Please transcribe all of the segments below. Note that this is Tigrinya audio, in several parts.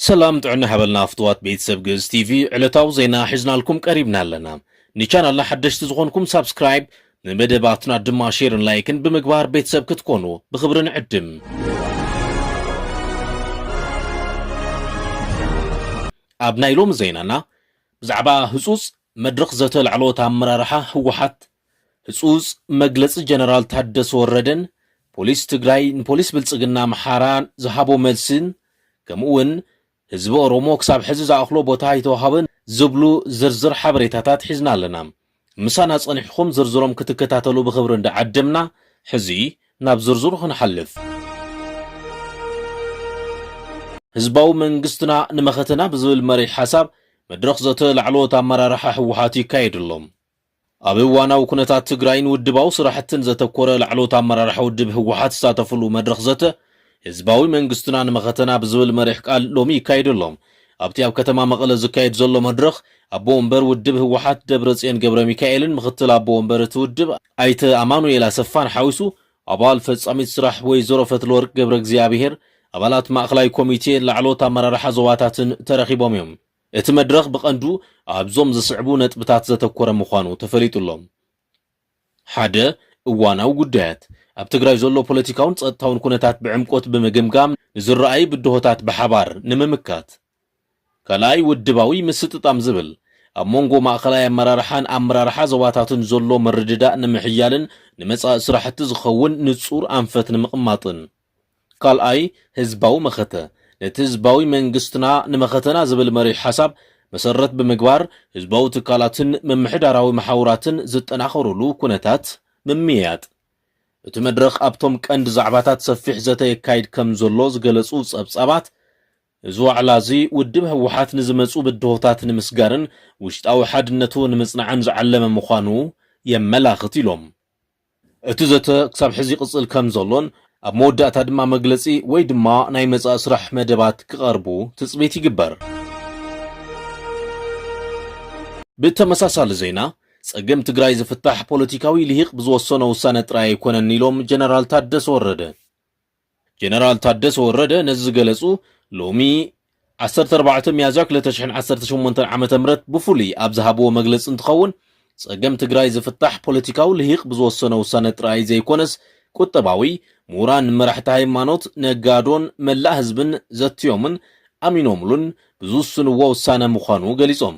ሰላም ጥዕና ሓበልና ፍትዋት ቤተሰብ ግእዝ ቲቪ ዕለታዊ ዜና ሒዝናልኩም ቀሪብና ኣለና ንቻናልና ሓደሽቲ ዝኾንኩም ሳብስክራይብ ንመደባትና ድማ ሼርን ላይክን ብምግባር ቤተሰብ ክትኮኑ ብኽብሪ ንዕድም ኣብ ናይ ሎሚ ዜናና ብዛዕባ ህፁፅ መድረኽ ዘተ ላዕለዎት ኣመራርሓ ህወሓት፣ ህፁፅ መግለፂ ጀነራል ታደሰ ወረደን ፖሊስ ትግራይ ንፖሊስ ብልፅግና ኣምሓራ ዝሃቦ መልሲን ከምኡ እውን ህዝቢ ኦሮሞ ክሳብ ሕዚ ዝኣኽሎ ቦታ ኣይተውሃበን ዝብሉ ዝርዝር ሓበሬታታት ሒዝና ኣለና። ምሳና ጸኒሕኩም ዝርዝሮም ክትከታተሉ ብኽብሪ እንዳዓደምና፣ ሕዚ ናብ ዝርዝሩ ክንሓልፍ። ህዝባዊ መንግስትና ንመኸተና ብዝብል መሪሕ ሓሳብ መድረኽ ዘተ ላዕለዎት ኣመራርሓ ህወሓት ይካየድ ኣሎ። ኣብ እዋናዊ ኩነታት ትግራይን ውድባዊ ስራሕትን ዘተኮረ ላዕለዎት ኣመራርሓ ውድብ ህወሓት ዝሳተፍሉ መድረኽ ዘተ ህዝባዊ መንግስትና ንመኸተና ብዝብል መሪሕ ቃል ሎሚ ይካየድ ኣሎ። ኣብቲ ኣብ ከተማ መቐለ ዝካየድ ዘሎ መድረኽ፣ ኣቦ ወንበር ውድብ ህወሓት ደብረፅዮን ገብረሚካኤልን ምክትል ኣቦ ወንበር እቲ ውድብ ኣይተ ኣማኑኤል ኣሰፋን ሓዊሱ ኣባል ፈፃሚት ስራሕ ወይዘሮ ፈትለወርቅ ገብረእግዚኣብሄር፣ ኣባላት ማእኸላይ ኮሚቴ፣ ላዕለዎት ኣመራርሓ ዞባታትን ተረኺቦም እዮም። እቲ መድረኽ ብቐንዱ ኣብዞም ዝስዕቡ ነጥብታት ዘተኮረ ምዃኑ ተፈሊጡ ኣሎ። ሓደ፣ እዋናዊ ጉዳያት፣ ኣብ ትግራይ ዘሎ ፖለቲካውን ጸጥታውን ኩነታት ብዕምቆት ብምግምጋም ንዝረኣዩ ብድሆታት ብሓባር ንምምካት። ካልኣይ፣ ውድባዊ ምስጥጣም ዝብል፣ ኣብ መንጎ ማእኸላይ ኣመራርሓን ኣመራርሓ ዞባታትን ዘሎ ምርድዳእ ንምሕያልን ንመጻኢ ስራሕቲ ዝኸውን ንጹር ኣንፈት ንምቕማጥን። ካልኣይ፣ ህዝባዊ መኸተ፣ ነቲ ህዝባዊ መንግስትና ንመኸተና ዝብል መሪሕ ሓሳብ መሰረት ብምግባር ህዝባዊ ትካላትን ምምሕዳራዊ መሓውራትን ዝጠናኸሩሉ ኩነታት ምምይያጥ። እቲ መድረኽ ኣብቶም ቀንዲ ዛዕባታት ሰፊሕ ዘተ የካይድ ከምዘሎ ዝገለፁ ፀብፃባት እዚ ዋዕላ እዚ ውድብ ህወሓት ንዝመፁ ብድሆታት ንምስጋርን ውሽጣዊ ሓድነቱ ንምፅናዕን ዝዓለመ ምዃኑ የመላኽት ኢሎም። እቲ ዘተ ክሳብ ሕዚ ይቕጽል ከም ዘሎን ኣብ መወዳእታ ድማ መግለጺ ወይ ድማ ናይ መጻኢ ስራሕ መደባት ክቐርቡ ትጽቢት ይግበር። ብተመሳሳሊ ዜና ጸገም ትግራይ ዝፍታሕ ፖለቲካዊ ልሂቅ ብዝወሰኖ ውሳነ ጥራይ ኣይኮነን ኢሎም ጀነራል ታደሰ ወረደ። ጀነራል ታደሰ ወረደ ነዚ ዝገለፁ ሎሚ ዓሰርተ ኣርባዕተ ሚያዝያ ክልተ ሽሕን ዓሰርተ ሸሞንተን ዓመተ ምህረት ብፍሉይ ኣብ ዝሃብዎ መግለፂ እንትኸውን ፀገም ትግራይ ዝፍታሕ ፖለቲካዊ ልሂቅ ብዝወሰኖ ውሳነ ጥራይ ዘይኮነስ ቁጠባዊ፣ ምሁራን፣ መራሕቲ ሃይማኖት፣ ነጋዶን መላእ ህዝብን ዘትዮምን ኣሚኖምሉን ብዝውስንዎ ውሳነ ምዃኑ ገሊፆም።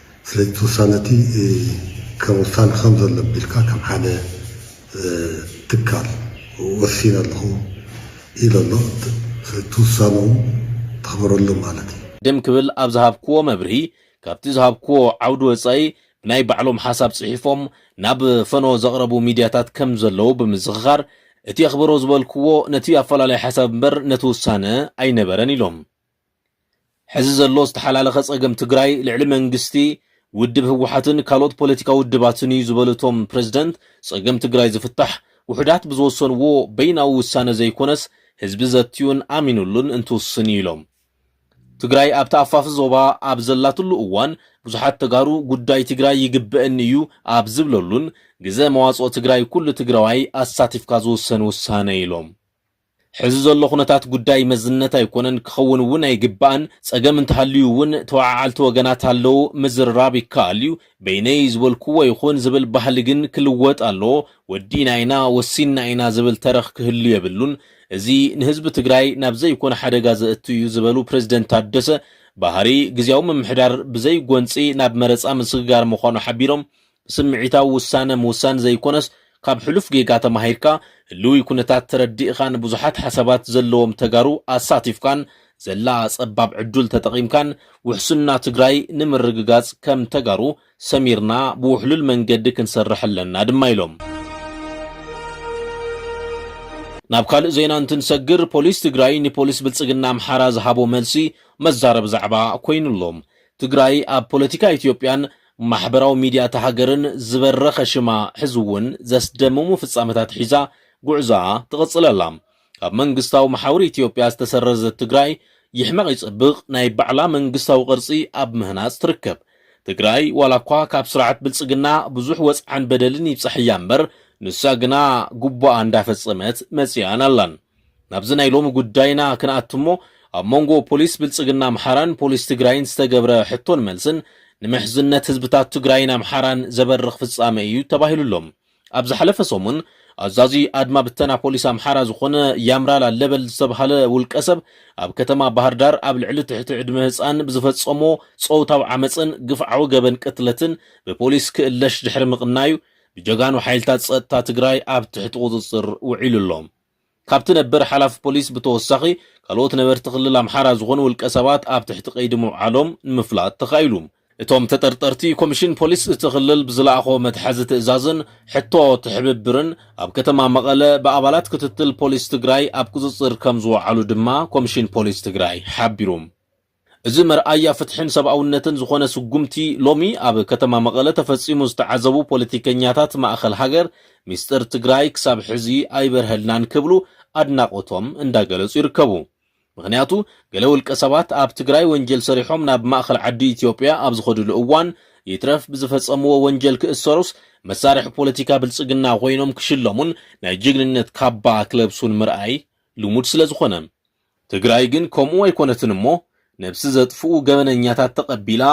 ስለዚ እቲ ውሳነ እቲ ከም ውሳነ ከም ዘሎ ኣቢልካ ከም ሓደ ትካል ወሲነ ኣለኹ ኢሉ ኣሎ። ስለዚ እቲ ውሳነኡ ተኽብረሉ ማለት እዩ። ቅድም ክብል ኣብ ዝሃብክዎ መብርሂ ካብቲ ዝሃብክዎ ዓውዲ ወፃኢ ብናይ ባዕሎም ሓሳብ ፅሒፎም ናብ ፈነወ ዘቕረቡ ሚድያታት ከም ዘለዉ ብምዝኽኻር እቲ ኣኽብሮ ዝበልክዎ ነቲ ኣፈላላይ ሓሳብ እምበር ነቲ ውሳነ ኣይነበረን ኢሎም። ሕዚ ዘሎ ዝተሓላለኸ ፀገም ትግራይ ልዕሊ መንግስቲ፣ ውድብ ህወሓትን ካልኦት ፖለቲካ ውድባትን እዩ ዝበሉ እቶም ፕረዚደንት፣ ፀገም ትግራይ ዝፍታሕ ውሑዳት ብዝወሰንዎ በይናዊ ውሳነ ዘይኮነስ ህዝቢ ዘትዩን ኣሚንሉን እንትውስን እዩ ኢሎም። ትግራይ ኣብ ተኣፋፊ ዞባ ኣብ ዘላትሉ እዋን ብዙሓት ተጋሩ ጉዳይ ትግራይ ይግበእኒ እዩ ኣብ ዝብለሉን ግዘ መዋፅኦ ትግራይ ኩሉ ትግራዋይ ኣሳቲፍካ ዝውሰን ውሳነ እዩ ኢሎም። ሕዚ ዘሎ ኩነታት ጉዳይ መዝነት ኣይኮነን፣ ክኸውን እውን ኣይግባእን፣ ፀገም እንተሃልዩ እውን ተወዓዓልቲ ወገናት ኣለው፣ ምዝርራብ ይከኣል እዩ፣ በይነይ ዝበልኩዎ ይኹን ዝብል ባህሊ ግን ክልወጥ ኣለዎ፣ ወዲእና ኢና፣ ወሲንና ኢና ዝብል ተረኽ ክህሉ የብሉን፣ እዚ ንህዝቢ ትግራይ ናብ ዘይኮነ ሓደጋ ዘእቱ እዩ ዝበሉ ፕረዚደንት ታደሰ፣ ባህሪ ግዝያዊ ምምሕዳር ብዘይጎንፂ ናብ መረፃ ምስግጋር ምዃኑ ሓቢሮም፣ ስምዒታዊ ውሳነ ምውሳን ዘይኮነስ ካብ ሕሉፍ ጌጋ ተማሂርካ ህልዊ ኩነታት ተረዲእኻን ብዙሓት ሓሳባት ዘለዎም ተጋሩ ኣሳቲፍካን ዘላ ፀባብ ዕዱል ተጠቒምካን ውሕስና ትግራይ ንምርግጋፅ ከም ተጋሩ ሰሚርና ብውሕሉል መንገዲ ክንሰርሕ ኣለና ድማ ኢሎም። ናብ ካልእ ዜና እንትንሰግር ፖሊስ ትግራይ ንፖሊስ ብልፅግና ኣምሓራ ዝሃቦ መልሲ መዛረቢ ዛዕባ ኮይኑ ኣሎ። ትግራይ ኣብ ፖለቲካ ኢትዮጵያን ማሕበራዊ ሚድያ እታ ሃገርን ዝበረኸ ሽማ ሕዚ እውን ዘስደምሙ ፍፃመታት ሒዛ ጉዕዞኣ ትቕፅል ኣላ። ካብ መንግስታዊ መሓውር ኢትዮጵያ ዝተሰረዘት ትግራይ ይሕመቕ ይፀብቕ ናይ ባዕላ መንግስታዊ ቅርፂ ኣብ ምህናፅ ትርከብ። ትግራይ ዋላ እኳ ካብ ስርዓት ብልፅግና ብዙሕ ወፅዓን በደልን ይብፃሕ እያ እምበር ንሳ ግና ጉቡኣ እንዳፈፀመት መፂኣን ኣላን። ናብዚ ናይ ሎሚ ጉዳይና ክንኣቱ እሞ ኣብ መንጎ ፖሊስ ብልፅግና ኣምሓራን ፖሊስ ትግራይን ዝተገብረ ሕቶን መልስን ንምሕዝነት ህዝብታት ትግራይን ኣምሓራን ዘበርኽ ፍፃመ እዩ ተባሂሉ ኣሎ። ኣብ ዝሓለፈ ሰሙን ኣዛዚ ኣድማ ብተና ፖሊስ ኣምሓራ ዝኾነ ያምራል ኣለበል ዝተብሃለ ውልቀ ሰብ ኣብ ከተማ ባህርዳር ኣብ ልዕሊ ትሕቲ ዕድመ ህፃን ብዝፈፀሞ ፆውታዊ ዓመፅን ግፍዓዊ ገበን ቅትለትን ብፖሊስ ክእለሽ ድሕሪ ምቕናዩ ብጀጋኑ ሓይልታት ፀጥታ ትግራይ ኣብ ትሕቲ ቁፅፅር ውዒሉ ኣሎ። ካብቲ ነበር ሓላፊ ፖሊስ ብተወሳኺ ካልኦት ነበርቲ ክልል ኣምሓራ ዝኾኑ ውልቀ ሰባት ኣብ ትሕቲ ቀይዲ ምውዓሎም ንምፍላጥ ተኻኢሉ። እቶም ተጠርጠርቲ ኮሚሽን ፖሊስ እቲ ክልል ብዝለኣኾ መትሓዚ ትእዛዝን ሕቶ ትሕብብርን ኣብ ከተማ መቐለ ብኣባላት ክትትል ፖሊስ ትግራይ ኣብ ቁፅፅር ከምዝወዓሉ ድማ ኮሚሽን ፖሊስ ትግራይ ሓቢሩ። እዚ መርኣያ ፍትሕን ሰብኣውነትን ዝኾነ ስጉምቲ ሎሚ ኣብ ከተማ መቐለ ተፈፂሙ ዝተዓዘቡ ፖለቲከኛታት ማእኸል ሃገር ሚስጥር ትግራይ ክሳብ ሕዚ ኣይበርሀልናን ክብሉ ኣድናቖቶም እንዳገለፁ ይርከቡ። ምኽንያቱ ገለ ውልቀ ሰባት ኣብ ትግራይ ወንጀል ሰሪሖም ናብ ማእኸል ዓዲ ኢትዮጵያ ኣብ ዝኸድሉ እዋን ይትረፍ ብዝፈፀምዎ ወንጀል ክእሰሩስ መሳርሒ ፖለቲካ ብልፅግና ኾይኖም ክሽለሙን ናይ ጅግንነት ካባ ክለብሱን ምርኣይ ልሙድ ስለዝኾነ ትግራይ ግን ከምኡ ኣይኮነትን እሞ ነብሲ ዘጥፍኡ ገበነኛታት ተቀቢላ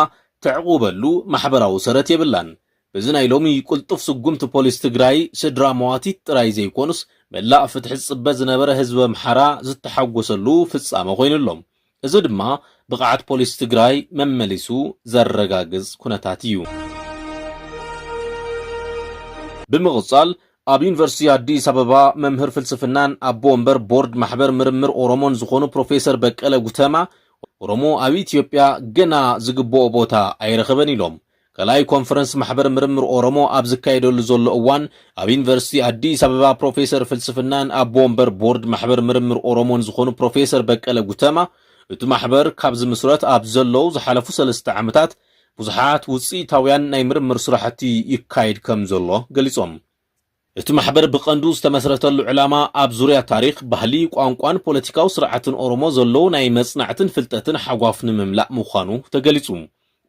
ተዕቁበሉ ማሕበራዊ ሰረት የብላን በዚ ናይ ሎሚ ቁልጡፍ ስጉምቲ ፖሊስ ትግራይ ስድራ መዋቲት ጥራይ ዘይኮኑስ መላእ ፍትሒ ዝጽበ ዝነበረ ህዝቢ ኣምሓራ ዝተሓጎሰሉ ፍጻመ ኮይኑ ኣሎ እዚ ድማ ብቅዓት ፖሊስ ትግራይ መመሊሱ ዘረጋግጽ ኩነታት እዩ። ብምቅጻል ኣብ ዩኒቨርሲቲ ኣዲስ ኣበባ መምህር ፍልስፍናን ኣቦ ወንበር ቦርድ ማሕበር ምርምር ኦሮሞን ዝኾኑ ፕሮፌሰር በቀለ ጉተማ፣ ኦሮሞ ኣብ ኢትዮጵያ ገና ዝግበኦ ቦታ ኣይረኸበን ኢሎም። ካልኣይ ኮንፈረንስ ማሕበር ምርምር ኦሮሞ ኣብ ዝካየደሉ ዘሎ እዋን ኣብ ዩኒቨርሲቲ ኣዲስ ኣበባ ፕሮፌሰር ፍልስፍናን ኣቦ ወንበር ቦርድ ማሕበር ምርምር ኦሮሞን ዝኾኑ ፕሮፌሰር በቀለ ጉተማ እቲ ማሕበር ካብ ዝምስረት ኣብ ዘለው ዝሓለፉ ሰለስተ ዓመታት ብዙሓት ውጽኢታውያን ናይ ምርምር ስራሕቲ ይካየድ ከም ዘሎ ገሊጾም። እቲ ማሕበር ብቐንዱ ዝተመስረተሉ ዕላማ ኣብ ዙርያ ታሪኽ፣ ባህሊ፣ ቋንቋን ፖለቲካዊ ስርዓትን ኦሮሞ ዘሎ ናይ መጽናዕትን ፍልጠትን ሓጓፍ ንምምላእ ምዃኑ ተገሊጹ።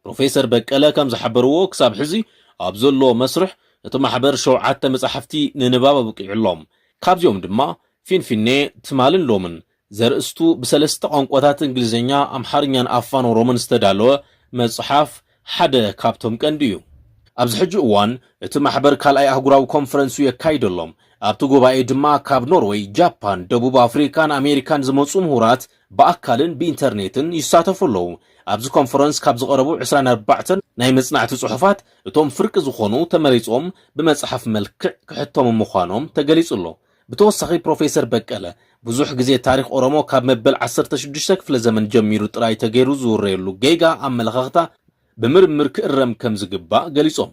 ፕሮፌሰር በቀለ ከም ዝሓበርዎ ክሳብ ሕዚ ኣብ ዘሎ መስርሕ እቲ ማሕበር ሸውዓተ መጻሕፍቲ ንንባብ ኣብቂዑ ኣሎ። ካብዚኦም ድማ ፊንፊኔ፣ ትማልን ሎምን፣ ዘርእስቱ ብሰለስተ ቋንቋታት እንግሊዝኛ፣ ኣምሓርኛን ኣፋን ኦሮሞን ዝተዳለወ መጽሓፍ ሓደ ካብቶም ቀንዲ እዩ። ኣብዚ ሕጂ እዋን እቲ ማሕበር ካልኣይ ኣህጉራዊ ኮንፈረንሱ የካይድ ኣሎ። ኣብቲ ጉባኤ ድማ ካብ ኖርወይ፣ ጃፓን፣ ደቡብ ኣፍሪካን ኣሜሪካን ዝመጹ ምሁራት ብኣካልን ብኢንተርኔትን ይሳተፉ ኣለዉ። ኣብዚ ኮንፈረንስ ካብ ዝቐረቡ ዕስራን ኣርባዕተን ናይ መጽናዕቲ ጽሑፋት እቶም ፍርቂ ዝኾኑ ተመሪጾም ብመጽሓፍ መልክዕ ክሕተሙ ምዃኖም ተገሊጹ ኣሎ። ብተወሳኺ ፕሮፌሰር በቀለ፣ ብዙሕ ግዜ ታሪኽ ኦሮሞ ካብ መበል ዓሰርተ ሽዱሽተ ክፍለ ዘመን ጀሚሩ ጥራይ ተገይሩ ዝውረየሉ ጌጋ ኣመለኻኽታ ብምርምር ክእረም ከም ዝግባእ ገሊጾም።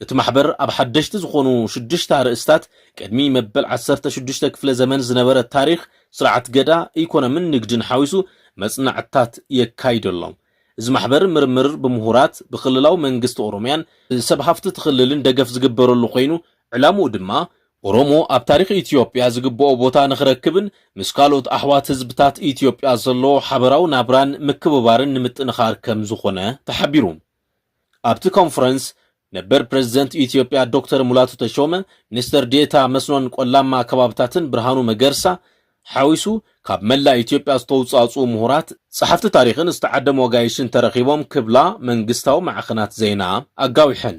እቲ ማሕበር ኣብ ሓደሽቲ ዝኾኑ ሽዱሽተ ኣርእስታት ቅድሚ መበል ዓሰርተ ሽዱሽተ ክፍለ ዘመን ዝነበረ ታሪኽ ስርዓት ገዳ፣ ኢኮኖምን ንግድን ሓዊሱ መጽናዕትታት የካይድ ኣሎ። እዚ ማሕበር ምርምር ብምሁራት፣ ብክልላዊ መንግስቲ ኦሮሚያን ብሰብ ሃፍቲ እቲ ክልልን ደገፍ ዝግበረሉ ኮይኑ ዕላምኡ ድማ ኦሮሞ ኣብ ታሪኽ ኢትዮጵያ ዝግበኦ ቦታ ንኽረክብን ምስ ካልኦት ኣሕዋት ህዝብታት ኢትዮጵያ ዘለዎ ሓበራዊ ናብራን ምክብባርን ንምጥንኻር ከምዝኾነ ተሓቢሩ። ኣብቲ ኮንፈረንስ ነበር ፕረዚደንት ኢትዮጵያ ዶክተር ሙላቱ ተሾመ፣ ሚኒስትር ዴኤታ መስኖን ቆላማ ከባብታትን ብርሃኑ መገርሳ ሓዊሱ ካብ መላእ ኢትዮጵያ ዝተውፃእፅኡ ምሁራት፣ ፀሓፍቲ ታሪኽን ዝተዓደሙ ኣጋይሽን ተረኺቦም ክብላ መንግስታዊ ማዕኸናት ዜና ኣጋዊሐን።